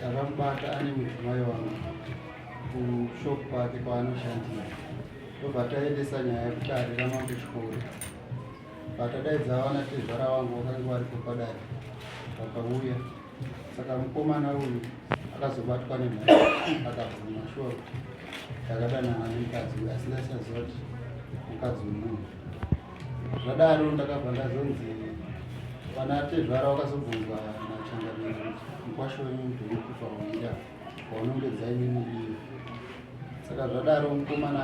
Takamubata ane mudzimai wangu kushop kwake kwaanoshandira ndobva taendesa nyaya yekuti arira mambo chikoro vatadaidza vana tezvara wangu vakange varipo padare vakauya saka mukomana uyu akazobatwa nemhai akabvuma shuwa kuti takadanana nemukadzi uyu asi ndaisaziva kuti mukadzi wemunhu zvadaro ndakabva ndazonzi vana tezvara vakazobvunzwa nachangamiri mukwasho wenyu ndinokufa waida waunongedza imimi iyo saka zvadaro mukomana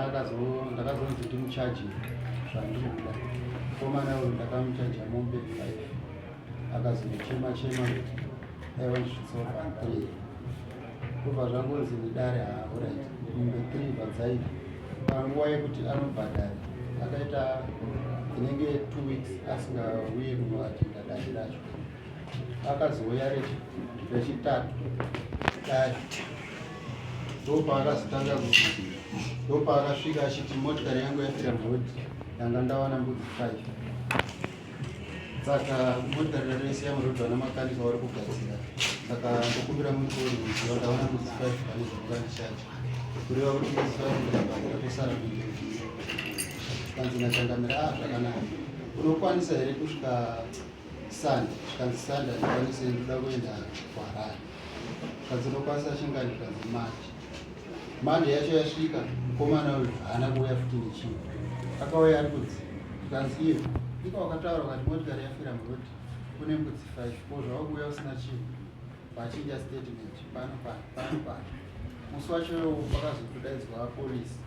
ndakazonzi ndimuchaji zvandinoda mukomana uyu ndakamuchaja mombe five akazochema chema aiwa ndisvitsoa three kubva zvangonzi mudare haorit mumbe three vadzaiva panguva yekuti anobhadhara akaita inenge two weeks asingauye kunoatinda dare racho akazouya rechitatu dare ndopaakazotanga kuti ndopaakasvika achiti motikari yangu yafira mhodi yanga ndawana mbudzi five saka motarira rese yamurodwa namakanika wari kugadzira saka ndokumbira mukoni kuziva ndaona kuti five pane zvekukanishacho kureva kuti five ndakabhadhira tosara kuiiisa kanzi nachangamira a ah, zvakanaka unokwanisa here kusvika sanda zvikanzi sanda ndikwanise ndoda kuenda kuharare kanzi unokwanisa chingani zvikanzi machi Manje yacho yasvika mukomana uyu haana kuuya futi nechii akauya ari kunzi tikanzi iye ika wakataura ukati motikari yafira muroti kune mbudzi five ko zvava kuuya usina chinhu vachinja statement pano pano pano pano musi wacho vakazotodaidzwa polisi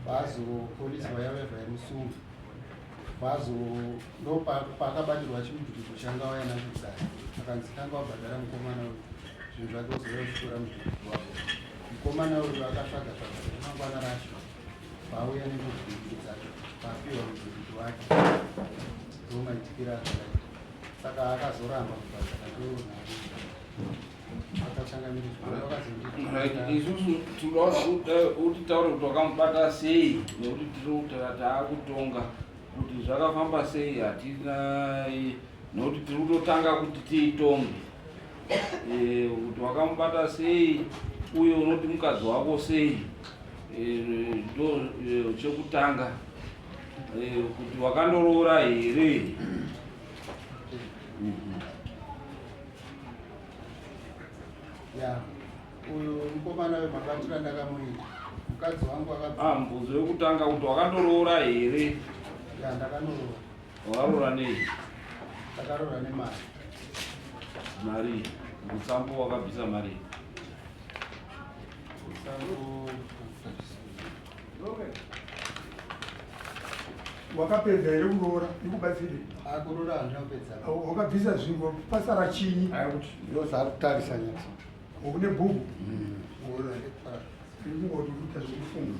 vazopolisi vayavevhaimusungi kwazo ndopakabatirwa chimutututu changa waya nacho kudai akanzi tanga wabhadhara mukomana uyu zvinhu zvake uzouya uchitora mutututu wako mukomana uyu akatsvaga tsvaga remangwana racho pauya nemutututu dzacho papiwa mutututu wake ndomaitikira zvakaita saka akazoramba kubhadhara ndoo navo isusu tinoda kuti taure kuti wakamubata sei nekuti tiri kutara taakutonga kuti zvakafamba sei hatina nekuti tiri kutotanga kuti tiitonge eh, kuti wakamubata sei uye unoti mukadzi wako sei eh, ndo eh, chekutanga kuti wakandoroora here mhm. ya uyu mukomana wemabatira ndakamuita mukadzi wangu akabva ah mubvunzo wekutanga kuti wakandoroora here ya ndakandoroora wakaroora nei ndakaroora nemari mari mutsambo wakabvisa mari mutsambo wakapedza here kuroora ikubatsire akuroora ah, andinapedza wakabvisa zvingo pasara chinyi ndosakutarisa nyati une bhuku ndikungoti hmm. kuita zvekufunga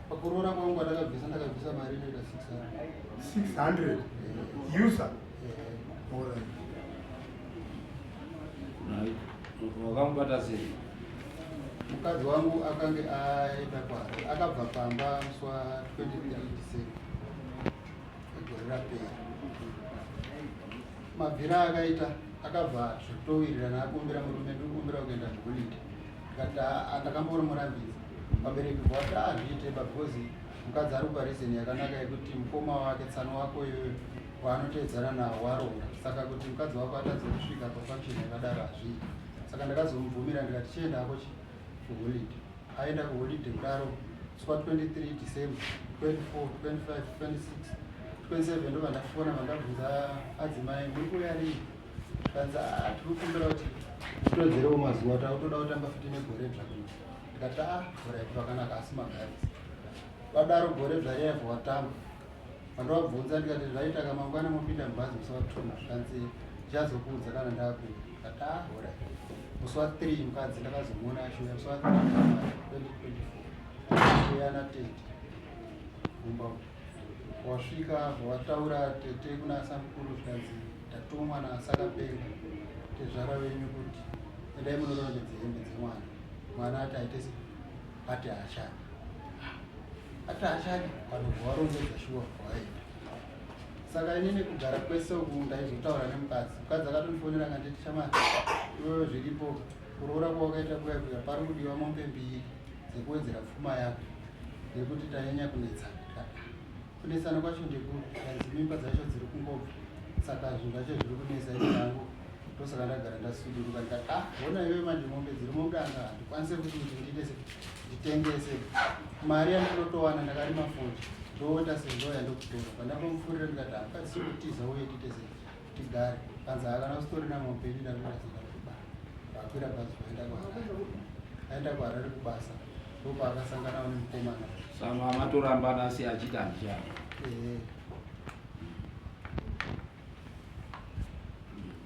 Pakuroora kwangu kwandakabvisa ndakabvisa mari inoita 600. 600 user. Alright. Wakambata sei? Mukadzi wangu akange aenda kwaari akabva pamba musi wa 23 December gore rapera. Mabvira akaita akabva zvatowirirana akumbira murume ndikumbira kuenda kuholiday Ndikati haa ndakamboona murambidzi vabereki vati hazviite because mukadzi ari kupa reason yakanaka yekuti mukoma wake tsano wako iyoyo waanotevedzana nawo waronga saka kuti mukadzi wako atadze kusvika pafunction yakadaro hazviite saka ndakazomubvumira ndikati chienda hako chi kuholiday aenda kuholiday kudaro swa 23 december 24 25 26 27 ndobva ndafona vandabvunza adzimai muri kuya rii Tanza tirikukumbira kuti titodzerewo mazuva takutoda kutamba futi negore dzva kuti ndikati a gore aiti vakanaka asi magazi vadaro gore dzva riyaivho watamba vandovabvunza ndikati zvaitaka mangwana mopinda mubhazi musi watuna zvikanzi ndichazokuudza kana ndakuda ndikati a gore musi wa three mukadzi ndakazomuona ashuya musi wa three twenty twenty four ashuya na tete kumba uku Wasvika zvawataura tete kuna samukuru zvikanzi ndatumwa naasakapenga tezvara venyu kuti endai munorongedza hembe dzemwana mwana ati aite se ati haachadi ati haachadi vanobva varongedza shuwa kwaenda saka ini nekugara kwese uku ndaizotaura nemukadzi mukadzi akatonifonera kanditi chamai iwewe zviripo kuroora kwawakaita kuya kuya pari kudiwa mombe mbiri dzekuwedzera pfuma yako nekuti tanyanya kunetsana kunetsana kwacho ndekuri kanzi mimba dzacho dziri kungobva saka zvinhu zvacho zviri kunetsa ini yangu ndosaka ndagara ndasuduruka ndikati ah hona iwe manje mombe dziri mudanga handikwanise kuti kuti ndiitese nditengese mari yandinotowana ndakarima futi ndoita sezvo yandokutora pandapomufurira ndikati hapasi kutiza uye tiite sei tigare panzi havana kusitorina maupenyu ndakunazoda kuba vakwira bhazi vaenda kuharare aenda kuharare kubasa ndopaakasangana wani mukomana sama matorambana asi achita ndichana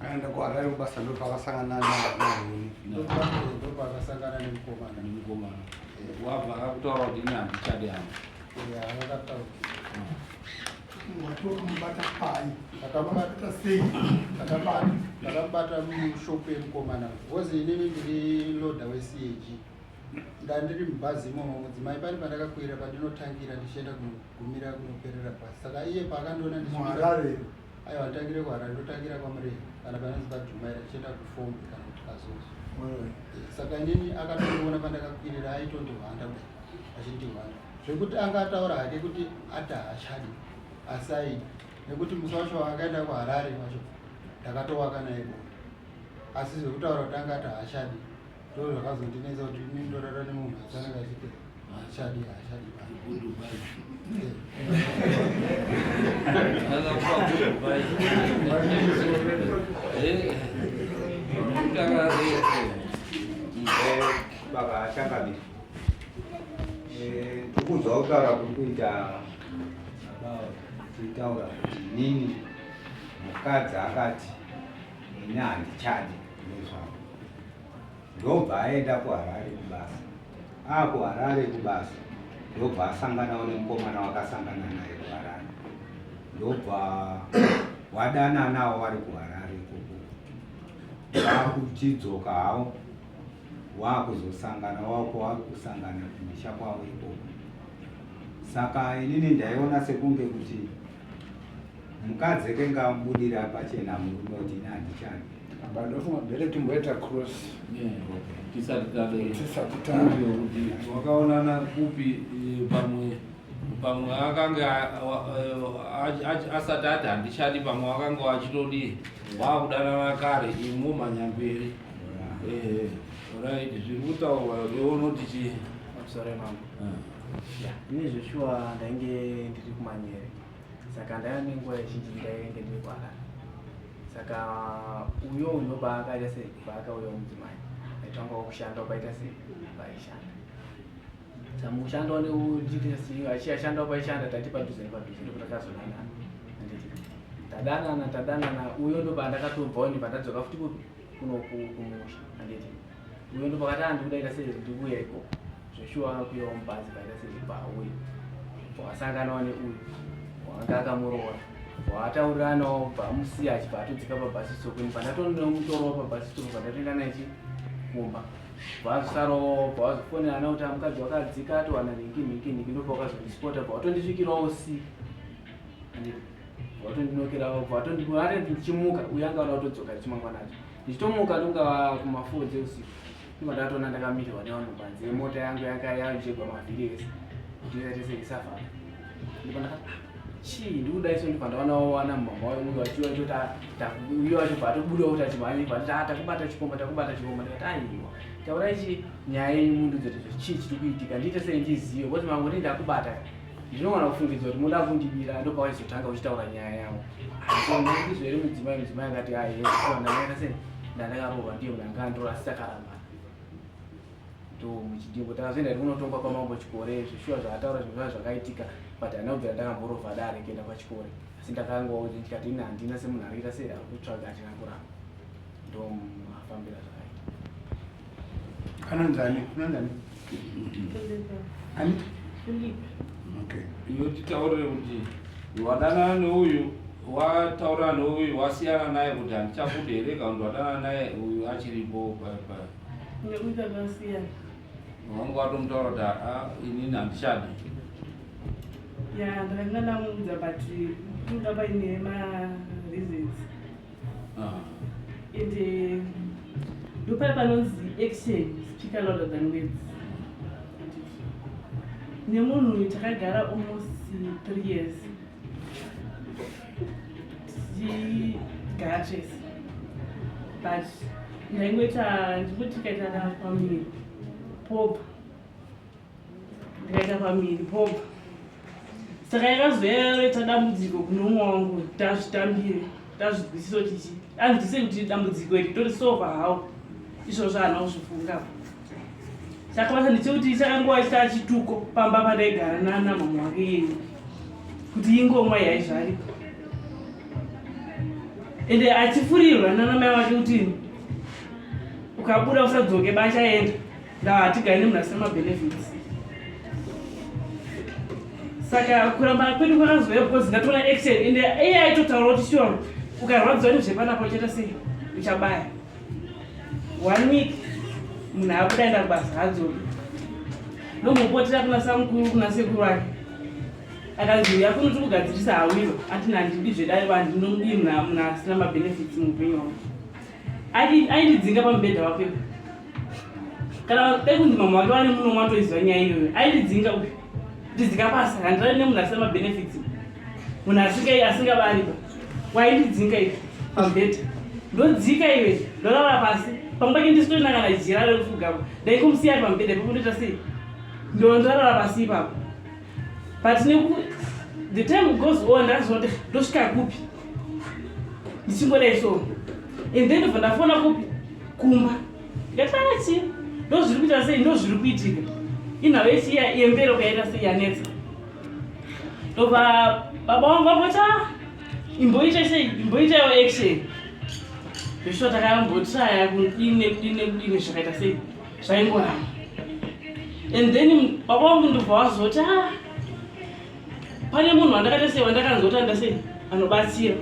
aenda kuharare kubasa ndopavasangana ndopaakasangana nemukomana nemukomana wabva akakutaura kuti ini handichadi hangu akakutaura Watomubata pai? Ndakamubata sei? Ndakamubata ndakamubata mushop yemukomana because inini ndiri loader weCAG. Ndandiri mubhazi imomo mudzimai pane pandakakwira pandinotangira ndichienda kunogumira kunoperera bhazi. Saka iye paakandiona ndichiharare. Aiwa nditangire kuharare ndotangira kwaMurema kana panonzi paDhumaira tichienda kufombe kana kuti kazozo. Saka inini akatoona pandakakwirira aitondihwanda kudai achindihwanda. zvekuti anga ataura hake kuti ati haachadi asi aida nekuti musa wacho waakaenda kuharare wacho ndakatowaka naye bonde asi zvekutaura kuti anga ati haachadi ndo zvakazondinetsa kuti ini ndorara nemunhu asi anenge achiti haachadi haachadi Baba, I can't have it. Eh, kukudzwa kutaura kuri kuita tichitaura kuti inini mukadzi akati ini handichadi nezvavo ndobva aenda kuharare kubasa akuharare kubasa ndobva asanganawo nemukomana wakasangana naye kuharare ndobva wadananawo wari kuharare ikoko akuchidzoka hawo waakuzosangana wako wari kusangana kumisha kwavo ikoko saka inini ndaiona sekunge kuti mukadzi ekenge amubudira pachena murume kuti ini handichani ndofunga bere timboita cross tisati tadewakaonana kupi eh, pamwe pamwe akange asati ati handichadi pamwe wakange wachitodii waakudanana kare imu manyamberi eh, right zviri kutaurwa iwe unoti chii sorry mama eh. ine zveshuwa ndainge ndiri kumanyere saka ndaya nenguva yezhinji ndainge ndiri kuharara saka uyo uyo paakaita sei paakauya mudzimai aitanga kushanda paita sei paishanda Tamushandawo neudts iyo achiyashandawo paishanda tati padhuze nepadhuze ndipo takazodana tadanana tadanana uyo ndo pandakatobvawo ndibva ndadzoka futi kupi kuno kumusha anditi uyo ndo pakati andikudaita sei ndikuya iko zveshuwa kuyawo mubhazi paita sei pauye wasanganawo neuyu wanga akamuroora waatauriranawo bvamusiya achibva atodzika pabhasi stop ini pandatonemutorova pabhasi stop pandatoenda naye chi kumba vasarowo pavazofonerana kuti amukadzi wakadzika atowana nhinki nhinki nhinki ndopa wakazondispota bva watondisvikirawo si vatondinokerawo bva vatondibare ndichimuka uye anga vada kutodzoka ndichimangwana acho ndichitomuka ndongava kumafoo dzeusiku ndiva ndatoona ndakamirwa nevanhu panze mota yangu yanga yajegwa mavhiri ese kuti yatese isafamba chii ndikudai so ndibva ndaona wawana mumama wayo uyo achiwa choti uyo wacho bva atobuda kuti achimhanya bva tati takubata chikomba takubata chikomba ndikati aiwa taurai chi nyaya yenyu mundiudze kuti chii chiri kuitika ndiite sei ndizive kuti mamwe ti ndakubata ndinogona kufungidza kuti muda kundibira ndopawaizotanga uchitaura nyaya yavo ndizvo here mudzimai mudzimai akati ahe ndandakarohwa ndiyo mnangandiroasitakaramba to muchidimbo takazoenda iri kunotongwa kwamambo chikore zvishuwa zvaataura zvinhu zvaa zvakaitika but handina kubvira ndakamborova dare kuenda kwachikore asi ndakangoa kuti ndikati ini handina semunhu arikuita sei ari kutsvaga achina kuramba ndomafambira zvakaita anonzani anonzani ani okay iyo titaurire kuti wadanana neuyu wataurana neuyu wasiyana naye kuti handichakude here kana kuti wadanana naye uyu achiripo pa, pa. Nekuita zvasiyana. Wangu watomutaura kuti ah, inini handichadi. Ya, ndakanga ndamuudza but kuda paine ma reasons. Ah. And eh, ndopaya panonzi action speak louder than words. Nemunhu takagara almost three years. tichigara chese but ndaingoita ndikuti tikaita pamiri pobva ndikaita pamiri pobva saka yakazoyaroita dambudziko kune umwe wangu tazvitambire tazvigwisiso tichi anzwise kuti dambudziko iri tori sova hawo izvozvo haana kuzvifungapo chakabasa ndechekuti chakanguva chaa chituko pamba pandaigara nana mama wake yenyu kuti ingomwa yaizvaripa ende achifurirwa nana mai wake kuti ukabuda usadzoke bachaenda ndava hatigari nemunhu asina mabenefits saka kuramba kwedu kwakazouya because ndatoona action ende iye aitotaura kuti sure ukarwadziwa nezvepanapo uchaita sei uchabaya one week munhu akuda enda kubasa hadzoki ndombopotera kuna samukuru kuna sekuru vake akanzi uya kuno tiri kugadzirisa hawiro atina handidi zvedai vanhu ndinomudii munhu asina mabenefits muupenyu wavo aindidzinga pamubhedha wapepa kana dai kunzi mamwe wake vane muno matoiziva nyaya iyoyo aindidzinga uyu ndidzinga basa handirani nemunhu asina mabenefits munhu asinga asingavaripa waindidzinga iwe pabhedha ndodzika iwe ndorara pasi pamwe pake ndisitorina kana jira rekufugako ndaikomusiya ari pamubhedha ipapo ndoita sei ndondorara pasi ipapo but neku the time goes on ndazoti ndosvika kupi ndichingodai so and then ndobva ndafona kupi kumba ndikatanga chii ndozviri kuita sei ndozviri kuitika inhau yechiya yembero kaita sei yanetsa ndobva baba wangu vamboti a ah, imboita sei imboita yo action zvisvo takayambotiaya kudini nekudini nekudini zvakaita sei zvaingoramba and then baba wangu ndobva wazoti a ah, pane munhu wandakaita sei wandakanzoti anda sei anobatsira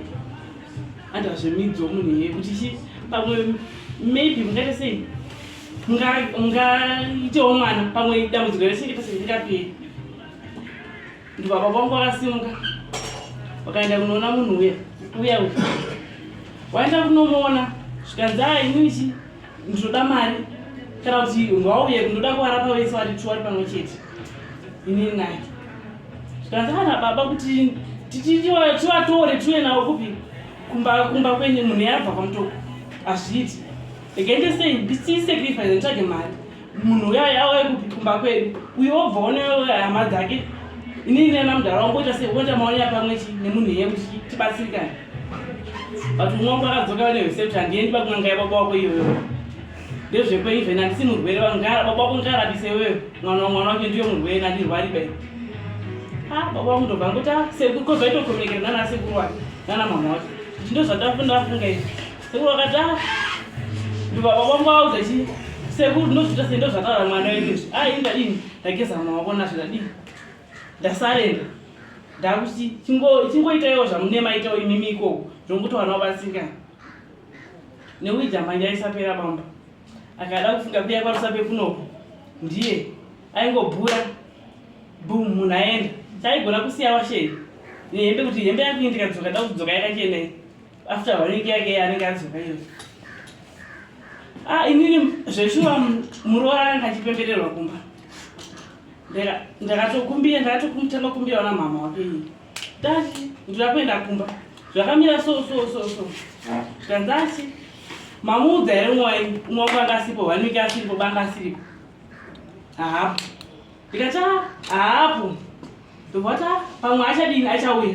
andazvemidzo munhu iye kuti chi pamwe maybe mungaita sei mungaitewo mwana pamwe dambudziko rese ita sei ringaperi ndibaba vangu vakasimuka vakaenda kunoona munhu uya uya uya waenda kunomuona zvikanzi a inini chi ndinoda mari kana kuti ngwauye ndinoda kuvarapa vese vari two vari pamwe chete inini naye zvikanzi ana baba kuti tivatore tiuye navo kupi kumba kumba kwenyu munhu yabva kwamutoko hazviiti rega ndisei ndisiisekrifise nditsvage mari munhu uya yawe kupi kumba kwedu uyo wobva oneoya hama dzake inini nena mudhara wangu oita sei oita maonya pamwe chi nemunhu iye kuti tibatsirikane but umwe wangu akadzoka vane vesept handiendi pakunanga yababa wako iyoyo ndezvekwenyu zvene handisi murwere vangara baba wako ngarapise iweyo mwana wamwana wake ndiyo murwere nandirwari bai a ah, baba wangu ndobva ngoti a ah, sekuru kozvaitocommunicate nana sekuru wake nana mama wacho ndo zvatafundafunga izvi Sekuru vakatara ndibaba vangu vaudza chii sekuru ndozvita sendo zvataura mwana wenyu izvi a ah, inga ini ndageza maoko nazvo ndadii ndasarenda ndakuti chingoitaiwo zvamunema itawo imimi ikoko zvokuti vana vabatsirikana neuija manje aisapera bamba akada kufunga kuya kwarusape kunoko ndiye aingobhura bum munhu aenda chaigona kusiya washei nehembe kuti hembe yakuindika dzoka da kudzoka yakachenei after one week yake anenge adzoka iyo ah inini zveshuwa muroora anga achipembererwa kumba ndakatokumbira ndakatokutanga kumbira ona mama wake iyi dati ndira kuenda kumba zvakamira so so so so zvikanzati mamuudza here umwe umwe wangu anga asipo one week asiripo banga asiripo haapo ndikati haapo Ndovata pamwe achadini achauya.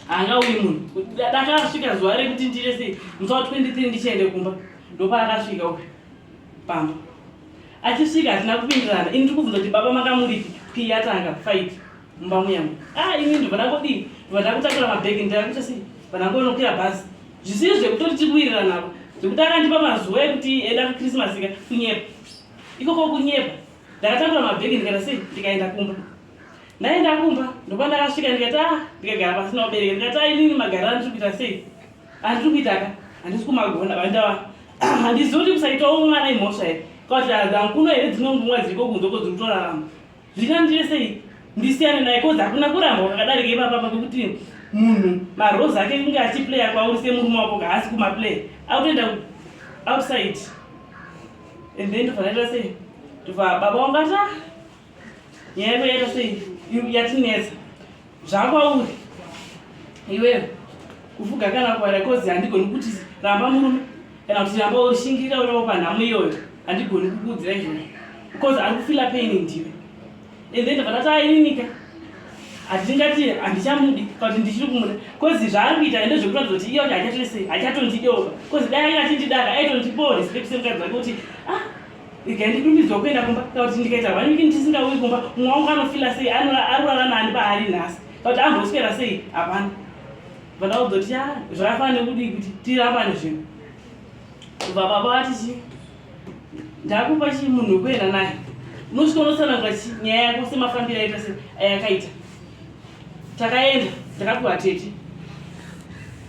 Anga uyi munhu. Dakasvika zuva rekuti ndire sei musawa 23 ndichiende kumba. Ndopaakasvika uyu. Pamba. Achisvika hatina kupindirana. Ini ndikubvunza kuti baba makamuripi pii yatanga fight mumba muyangu. Ah ini ndobva ndakodii. Ndobva ndakutakura mabhegi ndakuita sei. Vanangonokwira bhazi. Zvisiri zvekutori tikuwirirana apa. Zvekuti akandipa mazuva ekuti eda kuChristmas ka kunyepa. Ikoko kunyepa. ndakatakura mabhegi ndikaita sei ndikaenda kumba ndaenda kumba ndokuva ndakasvika ndikati a ah, ndikagara pasina ubereke ndikati a ah, inini magara andiri kuita sei andiri kuitaka handisi kumagona vandava handizivi kuti kusaitawo mwana imhosva here kwakuti hankuno here dzimwe ngumwa dziriko kunze ko dziri kutorarama zvikandiye sei ndisiyane naye kozi hakuna kuramba kwakadarika ipapapa kwekuti munhu marose ake kunge achiplaya kwauri semurume wako kahaasi kumaplay akutoenda outside and then ndovanaita sei ndova baba wangata nyaya yako yaita sei yatinetsa zvakwauri iweyo kufuga kana kuvara kozi handigoni kuti ramba murume kana kuti ramba ushingirira uravo panhamo iyoyo handigoni kukuudzira izvozvo because ari kufila paini ndiwe and then vakati aininika hatingati handichamudi kuti ndichiri kumuda bcause zvaari kuita ende zvekuratidza kuti iye kuti hachatoisei hachatondideoka bcause dai ainge achindidaka aitondipoa respect semukadzi wake kuti ah ikandidumbidzwa kuenda kumba kana kuti ndikaita hwaniki ndisingauyi kumba mumwe wangu anofila sei arurara nani paari nhasi kuti amboswera sei hapana vada kuzoti ya zvakafana nekudii kuti tirambane zvinhu kubva baba vati chii ndakupa chii munhu wekuenda naye unosvika unotsanangura nyaya yako semafambiro aita se ayakaita takaenda ndakapiwa tete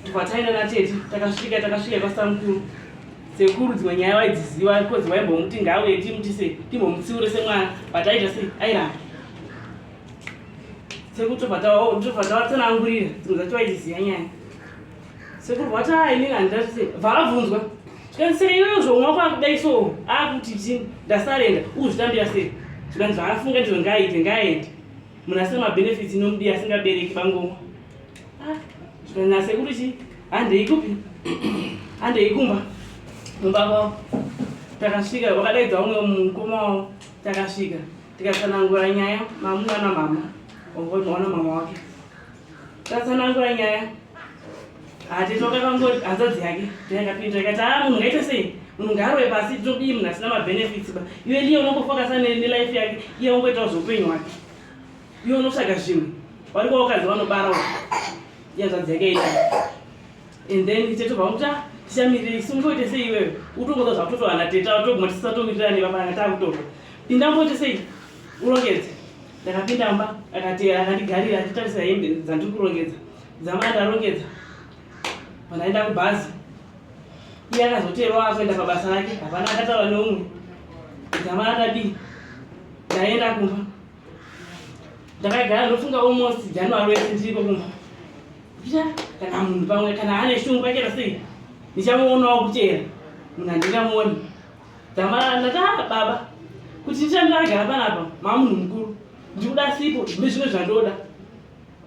ndikwataenda natete takasvika takasvika kwasamukuru sekuru dzimwe nyaya vaidziziva because vaimbomuti ngauye timuti se timbomutsiure semwana but aita se airamba sekuru tobva tavatsanangurira dzimwe dzacho vaidziziva nyaya sekuru vati haa inini handidati sei vakabvunzwa zvikanzi sei iweyo zvomwa kwakudai so akuti chii ndasarenda uzvitambira sei zvikanzi zvaafunga ndizvo ngaaite ngaaende munhu asina mabenefits inomudii asingabereki bangomwa ah, zvikanzi nasekuru chii handei kupi handei kumba mumba kwavo takasvika vakadaidza umwe mukoma wavo takasvika tikatsanangura nyaya mamuna namama ona mama wake tatsanangura nyaya hatitoka kangoti hanzvadzi yake ndayakapinda ikati haa munhu ngaite sei munhu ngaarove pasi tinobii munhu asina mabenefits ba iwe liye unongofokasa nelife yake iye ungoitawo zveupenyu hwake iwe unotsvaga zvinhu wari kwawakadzi vanobarawo yanzvadzi yake ita and then tetova kuti ah, tichamirira isi ungoite sei iwewe utongoza zvakutotohana teta toguma tisisatomirirani vapananga takutorwa pinda mboite sei urongedze ndakapinda mba akati akandigarira achitarisa hembe dzandiri kurongedza dzamai ndarongedza pandaenda kubhazi iye akazoteerwa akuenda pabasa rake hapana akataura neumwe dzamai akadii ndaenda kumba ndakagara ndofunga almost january wese ndiriko kumba kuita kana munhu pamwe kana ane shungu pachera sei ndichamuonawo kuteera munhu handingamuoni Tamara ndataura baba kuti nditange agara panapa mamunhu mukuru ndikuda sipo zvine zvimwe zvandoda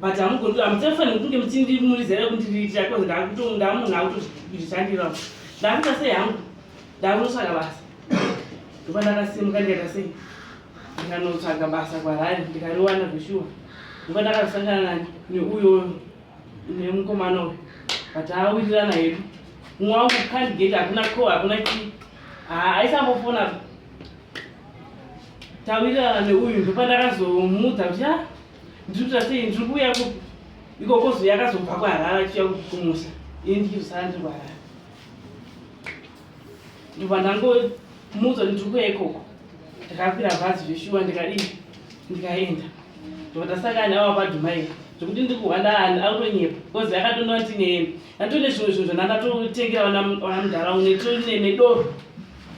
but hamugondira hamutefanira kunge muchindimurizira kundiriitira koz ndamunhu akutozvishandira ndakuita sei hangu ndakunotsvaga basa ndoba ndakasimuka ndikaita sei ndikanotsvaga basa kwarari ndikariwana zveshuwa ndoba ndakazosangana neuyo Ndiye mukomana uyu. But awirirana hedu. Mumwe wangu can't get hakuna ko hakuna chi. Ah, aisambofona. Tawirirana neuyu ndopandakazomuudza kuti ah ndiri kuita sei ndiri kuuya ku ikoko zuya akazobva kuharara achiuya kumusa. Ini ndichizosara ndiri kuharara. ndobva ndangomuudza kuti ndiri kuya ikoko ndakakwira bhazi zveshuwa ndikadii ndikaenda ndobva ndasangana navo padhumai zvekuti ndiri kuhwanda akutonyepa bcause akatonda kuti neeni ndatone zvimwe zvinhu zvandatotengera vana mudhara une tonemedoro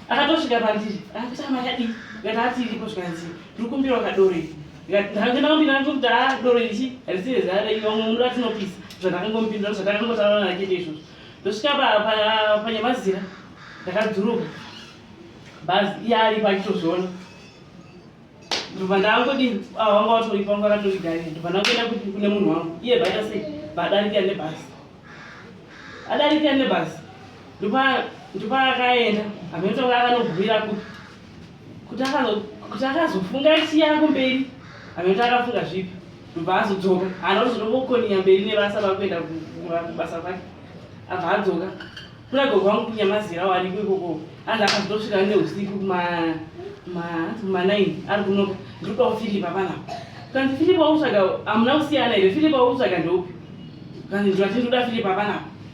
akatosvika pandiri akuti amakadii ndikati ati iripo zvikanzi ndiri kumbira wakadoro iri ndakandinakumbinandokuti a doro ichi harisi rezara ivamwe munoda tinopisa zvandakangomupindura zvatakangotaurana nakete izvozvo ndosvika panyamazira ndakadzuruka bhazi iye aripo achitozviona ndobva ndaangodii ah, wanga watoripo wanga wakatorigarira ndobva ndangoenda kuti kune munhu wangu iye bhaita sei baadarikira nebhazi adarikira nebhazi ndopaakaenda amene tonga akanogumira kuti kuti akazofunga chiya kumberi anoita akafunga zvipi ndobva azodzoka haana kuzonongokoniya mberi nebasa vakuenda kubasa kwake abva adzoka kuna gogo vangu kunyamazira wariko ikoko anzi akazotosvika ne usiku kumanaini ari kunoka ndiri kwavo filipa panapa kanzi filipa wautsvaga hamuna kusiyana here filipa wautsvaga ndeupi kanzi ndivati ndoda filipa panapa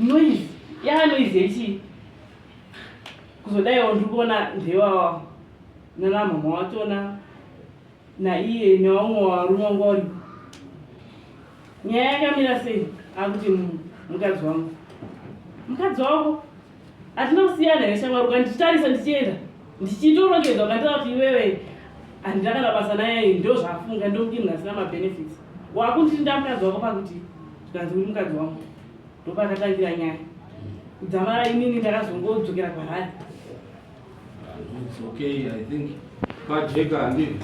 Noise. Yaa noise yechii? Kuzodaiwo ndiri kuona ndewawa nana mhamha watona naiye nevamwe varume vanga vari. Nyaya yakamira sei? Akuti mukadzi wangu. Mukadzi wako? hatina kusiyana here shamwari ukanditarisa ndichienda ndichitorongedza ukandira kuti iwewe handina kana basa naye ndo zvafunga ndokuti munhu asina mabenefits wakunditi ndamukadzi wako pakuti zvikanzi uri mukadzi wangu ndopakatangira nyaya kudzamara inini ndakazongodzokera kwarari It's okay, I think. Pajeka handi.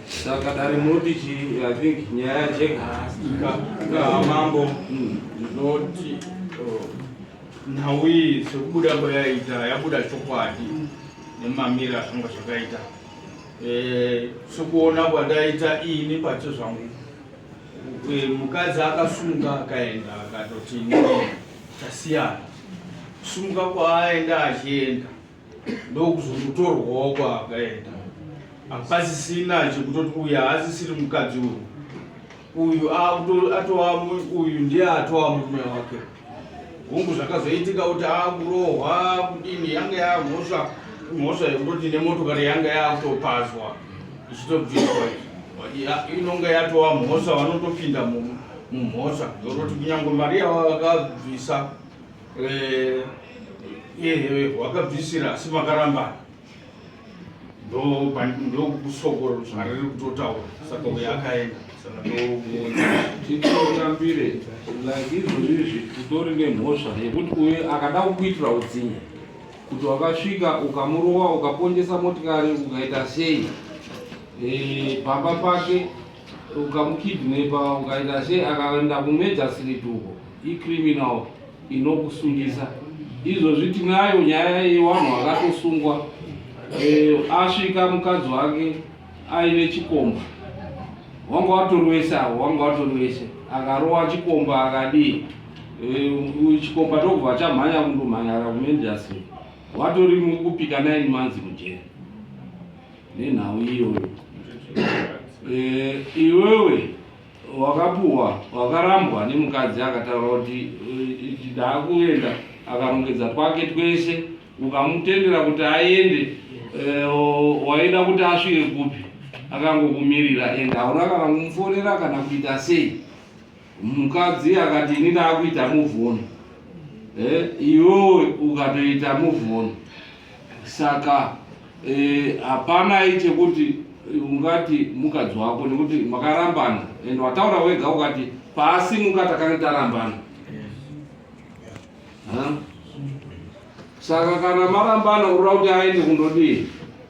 Saka dare munoti chi, I think nyaya yajeka. Ka mambo ndinoti oh, nhau iyi sekubuda kwayaita yabuda chokwadi nemamiri azvanga zvakaita. Eh, sekuona kwandaita ini pacho zvangu eh, mukadzi akasunga akaenda akatoti tasiyana kusunga kwaaenda achienda ndokuzokutorwawo kwaakaenda hapasisina chekutoti uyu haasisiri mukadzi uyu uyu atova uyu ndiye atova murume wake hungu zvakazoitika kuti akurohwa kudini yanga yamhosva mhosva yekutoti nemotokari yanga yakutopazwa ichitobviswa inonga yatova mhosva vanotopinda mumu mumhosva yokuti kunyange mari yavakabvisa eh, iye wakabvisira asi makarambana ndokusokoro zvariri kutotaura saka uye akaenda saka ndokuonatitotambire like izvozvi izvi kutori nemhosva yekuti uye akada kukuitira utsinye kuti wakasvika ukamurova ukapondesa motikari ukaita sei eh, pamba pake ukamukidnepa ukaita sei akaenda kumejasirit uko icriminal inokusungisa izvozvi tinayo nyaya yevanhu vakatosungwa e, asvika mukadzi wake aine chikomba wanga watorwese avo wanga watorwese akarowa chikomba akadii e, chikomba tokubva chamhanya kundomhanyara kumejasirit watori mukupika 9 months mujeri nenhau iyoyo eh, iwewe wakapuwa wakarambwa nemukadzi akataura kuti ndaakuenda akarongedza twake twese ukamutendera kuti aende eh, waida kuti asvike kupi akangokumirira ende hauna kana kumufonera kana kuita sei Mukadzi akati ini ndakuita move on. Eh, iwewe ukatoita move on. Saka eh, hapana eh, chekuti ungati mukadzi wako nekuti makarambana and wataura wega ukati pasi muka takange tarambana. Huh? Saka kana marambana urira kuti aende kundodii?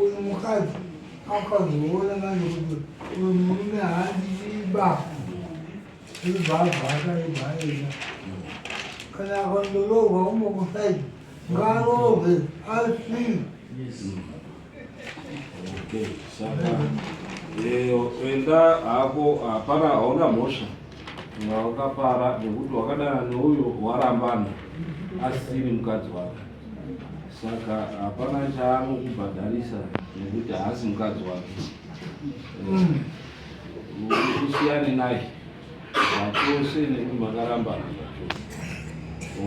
Uyu mukadzi akazoona manje kuti uyu murume haandiiba zvibvabvaakaibhaina kana akandoroorwa umwe kusaidi ngaroorwe asi Okay, saka eh, enda hako hapana hauna mhosva wakapara nekuti wakadana neuyo warambana asiri mukadzi wake saka hapana chaanokubhadharisa nekuti haasi mukadzi wake mm. usiyane naye zvachose nekuti makarambana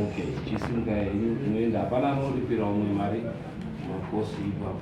ok chisimka henyu unoenda hapana anoripira umwe mari makosi ipapo